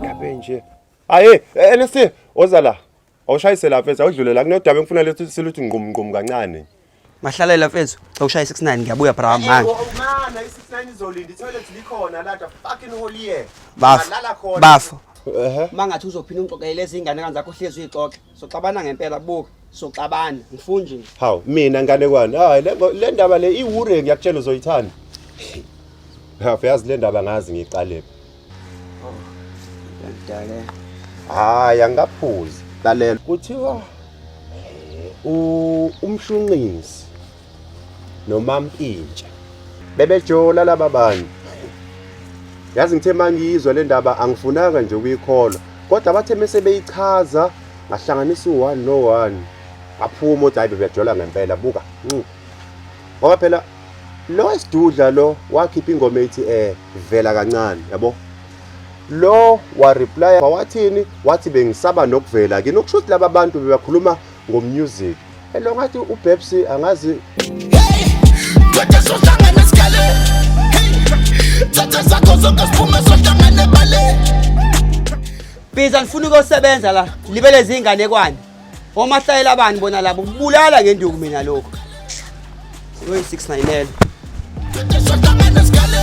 Ngabe nje. Aye, NSC, oza la. Awushayise la mfethu, awudlule la kunodaba engifuna lethu siluthi ngqum ngqum kancane. Mahlalela mfethu, awushaye 69 ngiyabuya bra manje. Mama, i69 izolinda itoilet likhona la fucking holy year. Bafo. Bafo. Ehe. Mangathi uzophinda ungixoxele izingane kanzakho hlezi uyixoxe. soxabana ngempela buka soxabana ngifunje nje hawu mina nganekwane hayi le ngo- le ndaba le iwure ngiyakutshela uzoyithanda hafu yazi le ndaba ngazi ngiqalephi ngidake hayi angikaphuzi lalela kuthiwa eh, u- umshunqisi nomampintsha bebejola laba bantu yazi ngithe mangiyizwa le ndaba angifunanga nje ukuyikholwa kodwa bathe mese beyichaza ngahlanganisa u-one no-one ngaphuma ukuthi hayi bebejola ngempela buka mm. ngoba phela lo esidudla lo wakhipha ingoma ethi eh vela kancane yabo lo wareply wawathini wathi bengisaba nokuvela kini okusho ukuthi laba bantu bebakhuluma ngomusic Hello ngathi uBabs angazi Thatha sohlangana sikhale Thatha sakho zonke siphume sohlangana ebale Biza ngifuna ukusebenza la libele zingane kwani Omahlayela abani bona labo kubulala ngenduku mina lokho Uyi 690 Thatha sohlangana sikhale